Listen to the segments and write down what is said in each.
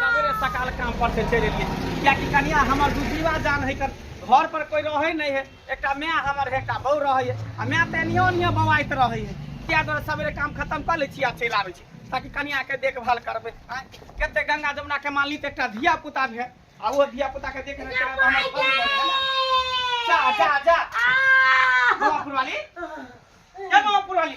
सबेरे सकाल काम पर से चलि एलियै कियाकि कनिया हमर दुजीवा जान है कर घर पर कोई रहै नहि है एकटा माय हमर है एकटा बहू रहै है आ माय तऽ एनियो ओनियो बौआइत रहै है किया दुआरे सबेरे काम खत्म कऽ लै छी आ चलि आबै छी ताकि कनिया के देखभाल करबै आँय, कते गंगा जमुना के मालिक एकटा धिया पुता है आ ओ धिया पुता के देखने के बाद हमर फल भऽ गेल। जा जा जा बाबा पुरवाली जा बाबा पुरवाली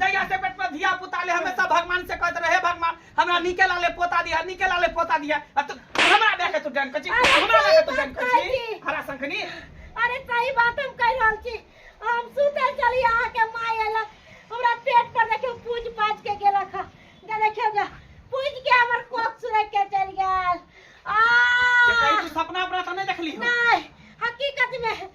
जहिया से पेट पर धिया पुता ले हमेशा भगवान से कहत रहे भगवान हमरा निके लाले पोता दिया निके लाले पोता दिया आ तू हमरा दे के तू डन कची अरे हमरा दे के तू डन कची काकी। हरा संखनी अरे सही बात हम कह रहल छी हम सुतल चली अहाँ के माय एलक हमरा पेट पर देखियो पूज पाज के गेलक ह जे देखियो जे पूज के हमर कोक सुरक के चल गेल ये कहीं आ तू सपना अपना तो नहीं देखली हो नहीं हकीकत में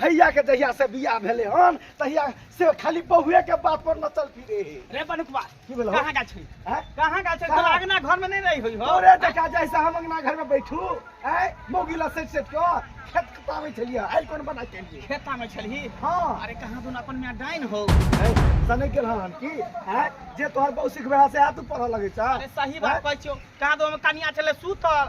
भैया के जहिया से बियाह भेले हन तहिया से खाली बहुए के बात पर नचल फिरे हे रे बनुकवा की भेलौ? कहाँ गेल छी हैं? कहाँ गेल छी कहाँ? तोरा अंगना घर में नहीं रही हुई हो तोरे देखा जैसे हम अंगना घर में बैठू ऐ मोगिला सेट सेट के खेत कटावे छलिए आइ कोन बना के लिए खेता में छलही हां अरे कहाँ दुन अपन में डाइन हो ऐ सने के रहन की ऐ जे तोहर बहु सिखबे से आ तू पढ़ लगे छ अरे सही बात कहै छियो कहाँ दो में कनिया छले सूतल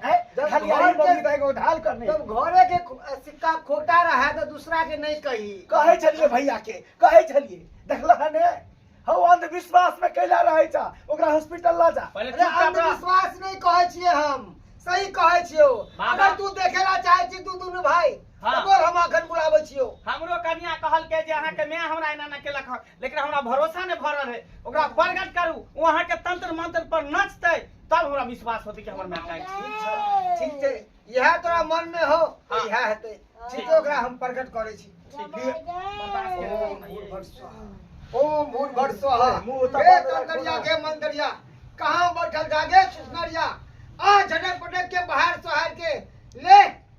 हैं? जब खलियाई घर बदली के- त एगो उधार करनी जब घरे के खो- सिक्का खोटा रहा तो दूसरा के नहीं कही कहै छलिए भैया के कहै छलिए देखला है ने हौ अंधविश्वास में कैला रहै छ ओकरा हॉस्पिटल ला जा पहिले अरे चुपचाप रह। अंधविश्वास नहीं कहे छिए हम सही कहे छियो बाबा। अगर तू देखेला चाहे छी तू दुनु भाई हाँ। तोर हम अखन बुलाबै छियो हमरो कनिया कहलकै जे अहाँके माय हमरा एना ना केलक हँ लेकिन हमरा भरोसा नहि भऽ रहल है ओकरा प्रगट करू ओ अहाँके तंत्र मंत्र पर नचतै तब हमरा विश्वास होतै कि हमर माय काल्हि ठीक छै ठीक छै इएह तोरा मन में हो तऽ हाँ। इएह हेतै ठीक छै ओकरा हम प्रकट करै छी बर्दाश्त के लेल हम भूल भट स्वाहा। ओम भूल भट स्वाहा मुँह उतार हे देलक कंकरिया के मंदरिया कहाँ बैठल जागे सुसनरिया आ झटक पटक के बाहर सोहर के ले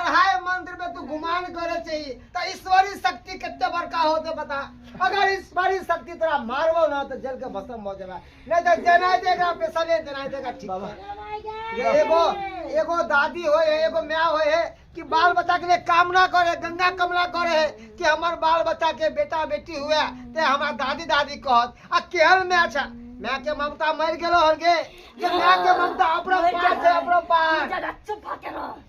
अढ़ाई मंदिर में तू गुमान करे चाहिए तो ईश्वरी शक्ति कितने बड़का होते बता अगर ईश्वरी शक्ति तेरा मारबो ना तो जल के भस्म हो जाएगा नहीं तो देना देगा पैसा नहीं देना देगा ठीक बाबा ये एगो एगो दादी होए है एगो माँ होए है कि बाल बच्चा के लिए कामना करे गंगा कमला करे है कि हमार बाल बच्चा के बेटा बेटी हुआ ते हमार दादी दादी कहत आ केहन में अच्छा माँ के ममता मर गेलो हर गे ये माँ के ममता अपना पास है अपना पास चुप होके रहो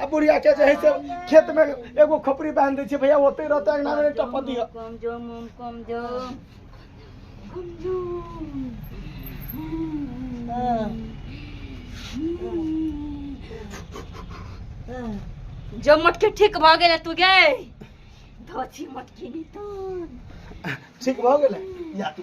आ बुढ़िया के जे है से खेत में एगो खोपड़ी बांध दै छै भैया ओते रहते अंगना में एकटा पति है कम जो मुम कम जो जो मटके ठीक भ गेल तू गे धोती मटकी नितन ठीक भऽ गेलै या तू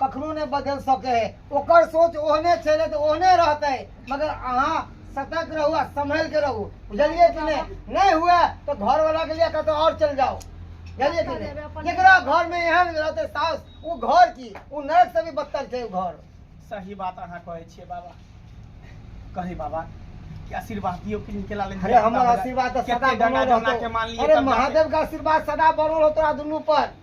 कखनो नहि बदलि सकै है ओकर सोच ओहने छलै तऽ ओहने रहतै मगर अहाँ सतर्क रहू आ सम्हल के रहू बुझलियै कि नहि नहि हुए तऽ घर वाला के लिए कतौ और चल जाओ बुझलियै कि नहि जेकरा घर में एहन रहते सास वो घर की वो नरक से भी बदतर छै वो घर सही बात अहाँ कहै छियै बाबा कहै बाबा कि आशीर्वाद दियो कि निकला ले अरे हमर आशीर्वाद तऽ सदा बनल रहतौ अरे महादेव के आशीर्वाद सदा बनल रहतौ दुनू पर